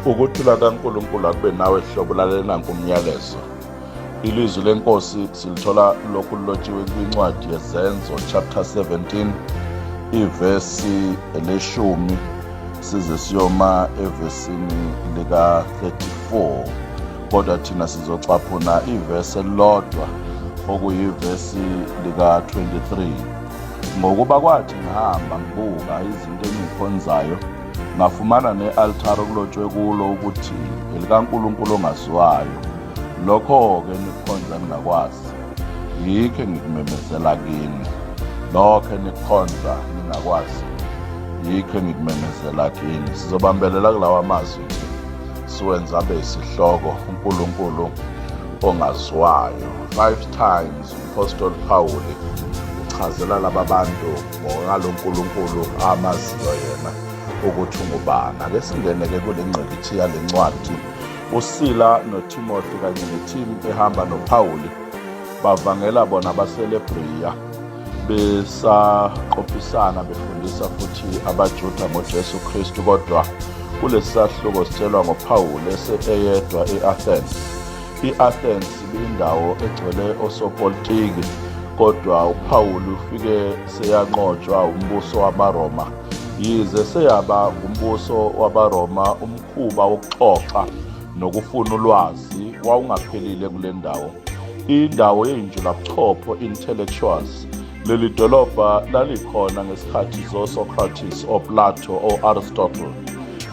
Ukuthula kaNkulunkulu akube nawe hlobo lalela nanku umyalezo. Ilizwi lenkosi silithola lokhu lilotshiwe kwincwadi yezenzo chapter 17 ivesi leshumi size siyoma evesini lika 34 kodwa thina sizocaphuna ivesi elilodwa okuyivesi lika 23 ngokuba kwathi ngihamba ngibuka izinto engikhonzayo ngafumana ne-altare okulotshwe kulo ukuthi elikaNkulunkulu ongaziwayo lokho-ke nikhonza ningakwazi yikho engikumemezela kini lokho enikhonza ningakwazi yikho engikumemezela kini sizobambelela kulawa mazwi nje siwenza abe isihloko unkulunkulu ongaziwayo five times umpostoli phawuli uchazela laba bantu Ngoba lo Nkulunkulu amaziyo yena ukuthi ungubani. Ake singene-ke kule ngqikithi yale ncwadi. USila noTimothy kanye nethimu ehamba noPawuli bavangela bona abaselebreya besaqophisana befundisa futhi abaJuda ngoJesu Kristu kodwa kulesi sahluko sitshelwa ngoPawulu eseyedwa e-Athens I-Athens ibiyindawo egcwele osopolitiki, kodwa uPawulu ufike seyanqotshwa umbuso wamaRoma. Yize seyaba ngumbuso wabaRoma, umkhuba wokuxoxa nokufuna ulwazi wawungaphelile kule ndawo. Indawo yeyinjulabuchopho, intellectuals, Leli dolobha lalikhona ngesikhathi zoSocrates, oPlato, o-Aristotle.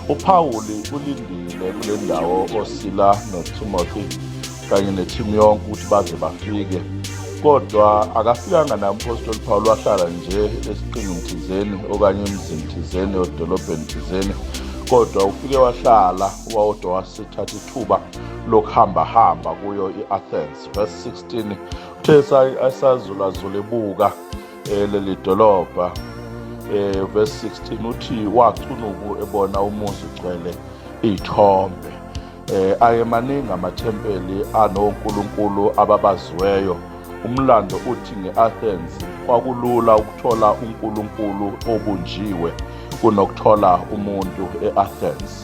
UPawuli ulindile kule ndawo oSila noTimothy kanye nethimu yonke ukuthi baze bafike kodwa akafikanga nami umpostoli Pawulu wahlala nje esiqingini thizeni okanye emzini thizeni odolobheni thizeni kodwa ufike wahlala wawodwa wasithatha ithuba lokuhambahamba kuyo i-athens verse 16 Uthe asazulazula ebuka eh, leli dolobha eh, verse 16 uthi wacunuku ebona umuzi ugcwele iy'thombe eh ayemaningi amathempeli anonkulunkulu ababaziweyo umlando uthi nge-athens kwakulula ukuthola unkulunkulu obunjiwe kunokuthola umuntu e-athens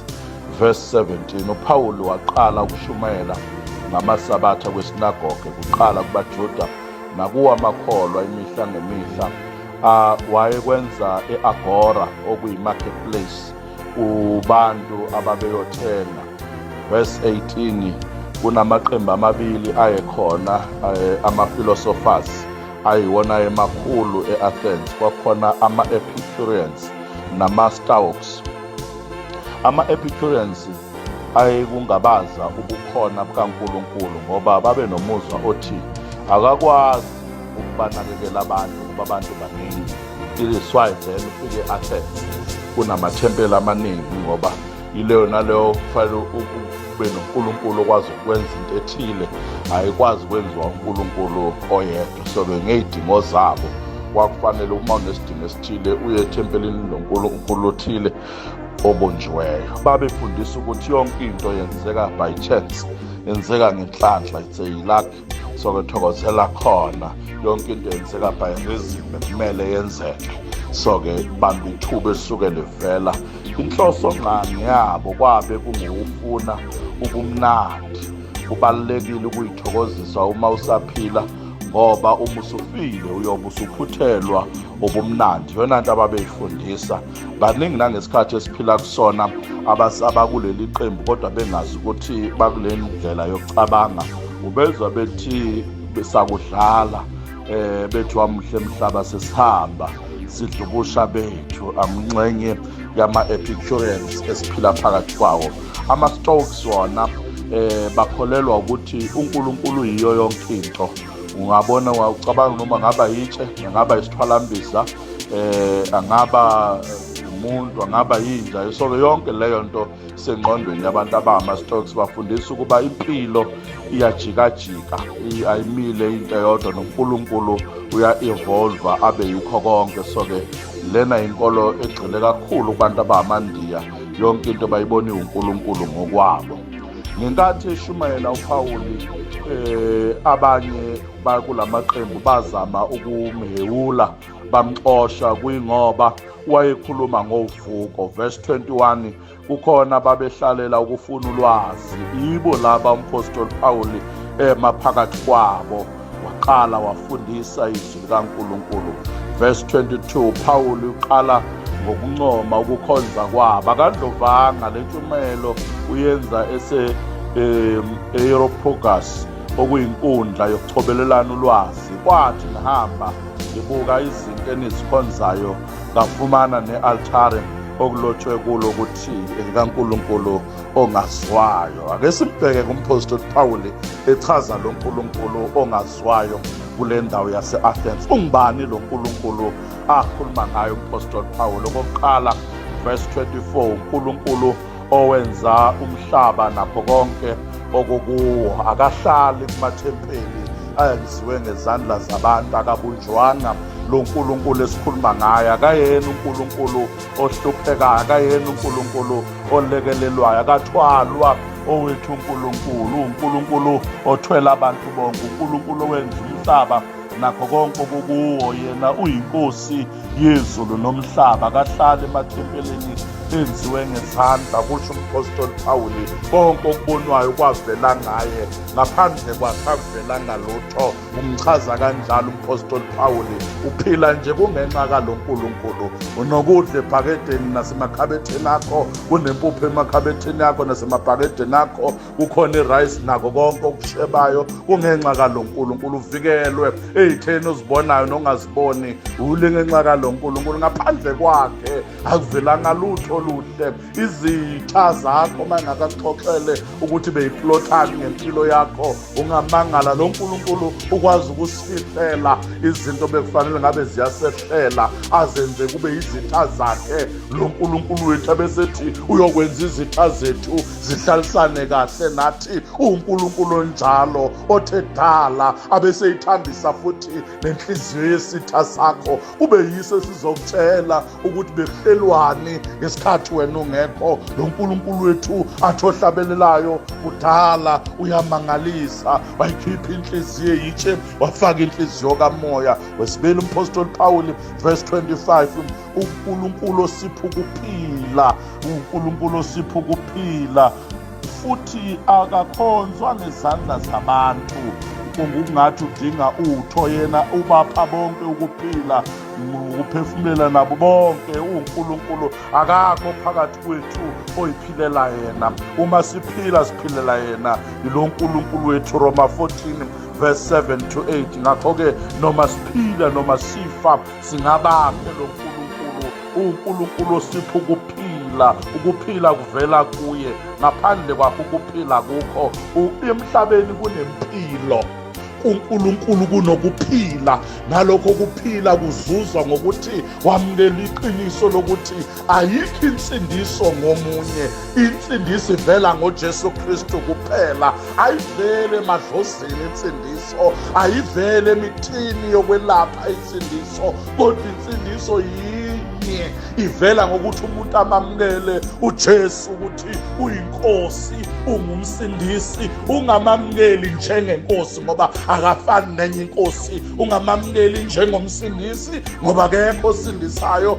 Verse 17 uPawulu waqala ukushumayela ngamasabatha kwesinagoge kuqala kubaJuda nakuwo amakholwa imihla ngemihla uh, wayekwenza e-agora okuyi-marketplace kubantu ababeyothenga verse 18 kunamaqembu amabili ayekhona eh, ama-philosophers ayiwona emakhulu e-athens kwakhona ama-epicurians nama-staux Ama-Epicureans ayekungabaza ubukhona bukaNkulunkulu ngoba babe nomuzwa othi akakwazi ukubanakekela abantu kuba abantu baningi iliswayi then ufike athens kunamathempeli amaningi ngoba yileyo naleyo kufanele ube nonkulunkulu okwazi ukwenza into ethile ayikwazi ukwenziwa unkulunkulu oyedwa So-ke ngey'dingo zabo kwakufanele uma unesidingo esithile uye ethempelini lonkulunkulu othile obunjiweyo babefundisa ukuthi yonke into yenzeka by chance yenzeka ngenhlanhla it's a luck so ke thokozela khona yonke into yenzeka by reason bekumele yenzeke so ke bamba ithuba esuke livela inhloso ngani yabo kwabe kungewufuna ubumnandi kubalulekile ukuyithokozisa uma usaphila ngoba uma usufile uyobe usuphuthelwa ubumnandi yona nto ababeyifundisa baningi nangesikhathi esiphila kusona abakuleli qembu kodwa bengazi ukuthi bakule ndlela yokucabanga ubezwa bethi sakudlala um bethi wamuhle mhlaba sesihamba sidlubusha bethu amnxenye yama-epicurians esiphila phakathi kwawo ama-stokes wona eh bakholelwa ukuthi uNkulunkulu yiyo yonke into ungabona wacabanga noma ngaba yitshe ngaba isithwalambiza eh angaba umuntu angaba yinja so yonke leyo nto sengqondweni yabantu abama stocks bafundisa ukuba impilo iyajikajika ayimile into eyodwa nonkulunkulu uya-evolva abe yikho konke so-ke lena yinkolo egxile kakhulu kubantu abandiya yonke into bayibona iwunkulunkulu ngokwabo ngenkathi eshumayela upawuli um abanye bakula maqembu bazama ukumhewula bamxosha kuyingoba wayekhuluma ngovuko verse 21 kukhona babehlalela ukufuna ulwazi ibo laba umphostoli Pawuli ema phakathi kwabo waqala wafundisa izwi likaNkulunkulu verse 22 Pawuli uqala ngokuncoma ukukhonza kwabo akandlovanga lentshumayelo uyenza ese Aeropogus okuyinkundla yokuchobelelana ulwazi kwathi ngihamba Ngibuka izinto enizikhonzayo ngafumana ne-altare okulotshwe kulo ukuthi elikaNkulunkulu ongazwayo. Ake simbheke kumphostoli Pawuli echaza lo Nkulunkulu ongazwayo kule ndawo yase-Athens. Ungubani lo Nkulunkulu akhuluma ngayo umphostoli Pawuli? Okokuqala, verse 24, uNkulunkulu owenza umhlaba nakho konke okukuwo akahlali kumathempeli ayenziwe ngezandla zabantu akabunjwanga lo nkulunkulu esikhuluma ngaye akayena unkulunkulu ohluphekayo akayena unkulunkulu olekelelwayo akathwalwa owethu unkulunkulu unkulunkulu othwela abantu bonke unkulunkulu owenza umhlaba nakho konke okukuwo yena uyinkosi yezulu nomhlaba kahlali emathempelini enziwe ngezandla kusho umphostoli phawuli konke okubonwayo kwavela ngaye ngaphandle kwakhe akuvelanga lutho umchaza kanjalo umphostoli phawuli uphila nje kungenxa kalo nkulunkulu unokudla ebhakedeni nasemakhabetheni akho kunempuphu emakhabetheni akho nasemabhakedeni akho kukhona irise nako konke okushebayo kungenxa kalo nkulunkulu uvikelwe eyitheni ozibonayo nongaziboni ule ngenxa kalo nkulunkulu ngaphandle kwakhe akuvelanga lutho oluhle izitha zakho uma ingakakuxoxele ukuthi beyiplothani ngempilo yakho ungamangala lo nkulunkulu ukwazi ukusifihlela izinto bekufanele ngabe ziyasehlela azenze kube izitha zakhe lo nkulunkulu wethu abesethi uyokwenza izitha zethu zihlalisane kahle nathi uNkulunkulu onjalo othe dala abeseyithambisa futhi nenhliziyo yesitha sakho kube yiso esizokutshela ukuthi bekuhlelwani ngesikhathi wena ungekho lo nkulunkulu wethu athi ohlabelelayo kudala uyamangalisa wayikhipha inhliziyo yitshe wafaka inhliziyo kamoya wesibili umphostoli pawuli verse 25 uNkulunkulu osipha ukuphila uNkulunkulu osipha ukuphila futhi akakhonzwa ngezandla zabantu kungungathi udinga utho yena ubapha bonke ukuphila ukuphefumula nabo bonke uNkulunkulu akakho phakathi kwethu oyiphilela yena uma siphila siphilela yena yilo uNkulunkulu wethu Roma 14 verse 7 to 8 ngakho ke noma siphila noma sifa Singabakhe lo Nkulunkulu, uNkulunkulu osipha ukuphila, ukuphila kuvela kuye. Ngaphandle kwakho ukuphila kukho. Emhlabeni kunempilo kuNkulunkulu kunokuphila nalokho kuphila kuzuzwa ngokuthi wamukela iqiniso lokuthi Ayikho insindiso ngomunye, insindiso ivela ngoJesu Kristu kuphela. Ayivele emadlozini insindiso, ayivele emithini yokwelapha insindiso, kodwa insindiso yinye ivela ngokuthi umuntu amamukele uJesu ukuthi uyinkosi, ungumsindisi, ungamamukeli njengenkosi ngoba akafani nenye inkosi, ungamamukeli njengomsindisi ngoba akekho osindisayo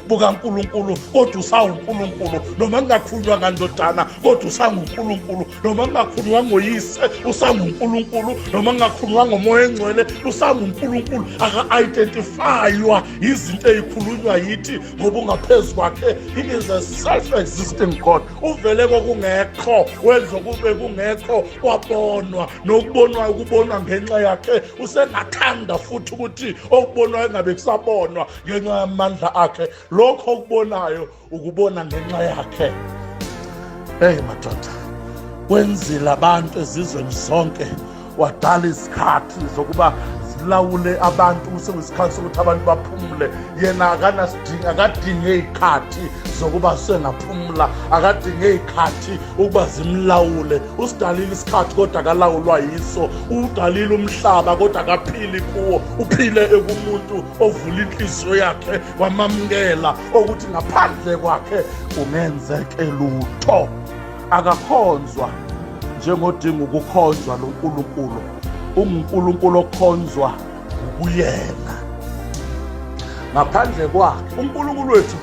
bukaNkulunkulu kodwa usawuNkulunkulu noma kungakhulunywa ngandodana kodwa usanguNkulunkulu noma kungakhulunywa ngoyise usanguNkulunkulu noma kungakhulunywa ngomoya engcwele usanguNkulunkulu aka-identifaywa yizinto ezikhulunywa yithi ngoba ungaphezu kwakhe he is a self-existing god uvele kokungekho wenza kube kungekho kwabonwa nokubonwa ukubonwa ngenxa yakhe usengathanda futhi ukuthi okubonwayo engabe kusabonwa ngenxa yamandla akhe lokho okubonayo ukubona ngenxa yakhe eyi madoda wenzile abantu ezizweni zonke wadala izikhathi zokuba zilawule abantu kusewesikhathi sokuthi abantu baphumule yena akanasidingi akadinge iy'khathi zokuba sengaphumula akadinge iy'khathi ukuba zimlawule usidalile isikhathi kodwa akalawulwa yiso uwudalile umhlaba kodwa akaphili kuwo uphile ekumuntu ovula inhliziyo yakhe wamamukela ukuthi ngaphandle kwakhe kungenzeke lutho akakhonzwa njengodinga ukukhonzwa lo nkulunkulu ungunkulunkulu okhonzwa ukuyena ngaphandle kwakhe unkulunkulu wethu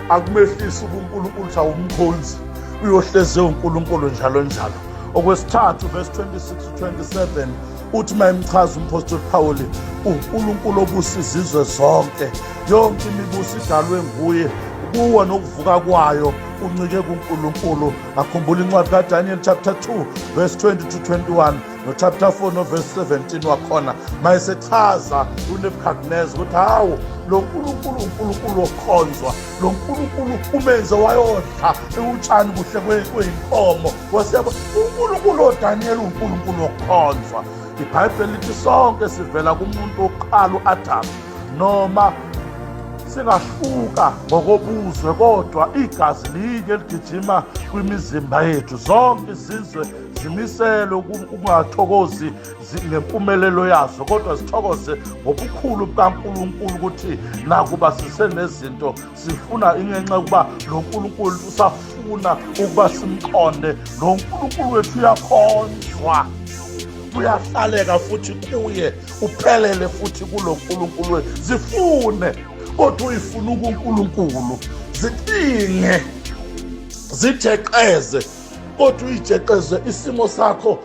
akumehlisi ubunkulunkulu ukuthi awumkhonzi uyohleze unkulunkulu njalo njalo okwesithathu verse 26 27 uthi uma emchaza umphostoli phawuli unkulunkulu obusa izizwe zonke yonke imibuso idalwe nguye kuwo nokuvuka kwayo uncike kunkulunkulu akhumbula incwadi kadaniel chapter 2 verse 20 to 21 nochapter 4 noverse 17 wakhona mayesechaza unebukadnezar ukuthi hawu lo nkulunkulu unkulunkulu wokukhonzwa lo nkulunkulu umenze wayodla ewutshani kuhle kweyinkomo Wasiyabo, uNkulunkulu oDaniyeli uNkulunkulu wokukhonzwa. IBhayibheli lithi sonke sivela kumuntu wokuqala u-Adamu noma singahluka ngokobuzwe kodwa igazi linye ligijima kwimizimba yethu zonke izizwe zimiselwe ukungathokozi ngempumelelo yazo kodwa zithokoze ngobukhulu bukaNkulunkulu ukuthi nakuba sisenezinto sifuna ingenxa yokuba lo nkulunkulu usafuna ukuba simqonde lo nkulunkulu wethu uyakhonzwa uyahlaleka futhi kuye uphelele futhi kulo nkulunkulu wethu zifune kodwa uyifuna ukunkulunkulu zicinge zijeqeze kodwa uyijeqeze isimo sakho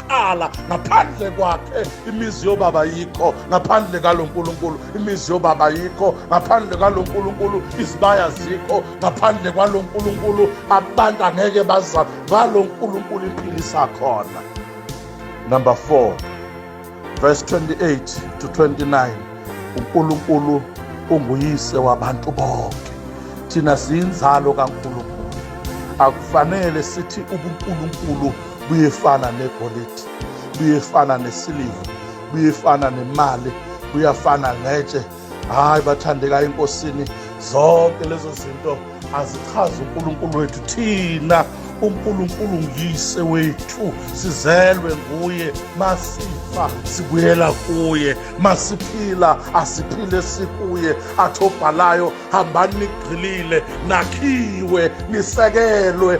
kuqala ngaphandle kwakhe imizi yobaba yikho ngaphandle kalo nkulunkulu imizi yobaba yikho ngaphandle kalo nkulunkulu izibaya zikho ngaphandle kwalo nkulunkulu abantu angeke bazama ngalo nkulunkulu impilo isakhona number 4 verse 28 to 29 unkulunkulu unguyise wabantu bonke thina siyinzalo kankulunkulu akufanele sithi ubunkulunkulu buyefana negolide buyefana nesiliva buyefana nemali buyafana ngetshe hhayi bathandeka enkosini zonke lezo zinto azichazi unkulunkulu wethu thina unkulunkulu nguyise wethu sizelwe nguye masifa sibuyela kuye masiphila asiphile sikuye athi obhalayo hambani nigqilile nakhiwe nisekelwe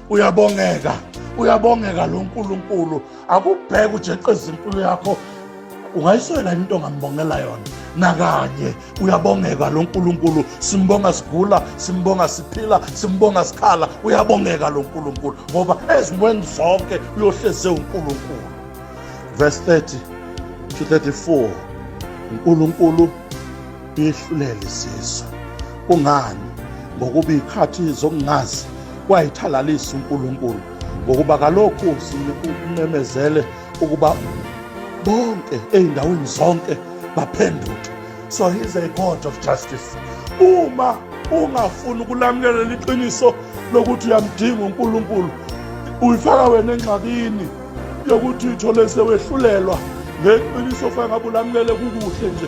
uyabongeka uyabongeka lo nkulunkulu akubheke ujeqeza impilo yakho ungayiswela yini into ongambongela yona nakanye uyabongeka lo nkulunkulu simbonga sigula simbonga siphila simbonga sikhala uyabongeka lo nkulunkulu ngoba ezimweni zonke uyohleze unkulunkulu verse 30 to 34 unkulunkulu ihlulele isizwe kungani ngokuba ikhathi zokungazi wayithalalisa uNkulunkulu ngokuba kalokhu simemezele ukuba bonke ezindaweni zonke baphenduke so he's a god of justice uma ungafuni ukulamukelela iqiniso lokuthi uyamdinga uNkulunkulu uyifaka wena engxakini yokuthi uthole sewehlulelwa ngeqiniso fangabe ulamukele kukuhle nje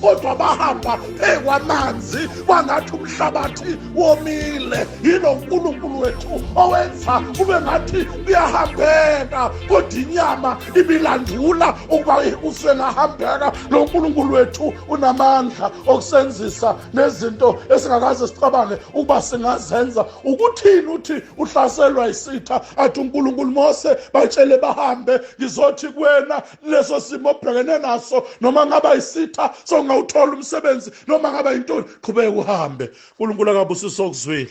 kodwa bahamba phekwanamanzi kwangathi umhlabathi womile yilo nkulunkulu wethu owenza kube ngathi kuyahambeka kodwa inyama ibilandula ukuba usengahambeka lo nkulunkulu wethu unamandla okusenzisa nezinto esingakaze sicabange ukuba singazenza ukuthini uthi uhlaselwa isitha athi unkulunkulu mose batshele bahambe ngizothi kuwena leso simo obhekene naso noma ngaba isitha songawuthola umsebenzi noma ngaba yintoni qhubeka uhambe uNkulunkulu akabusiso okuzwile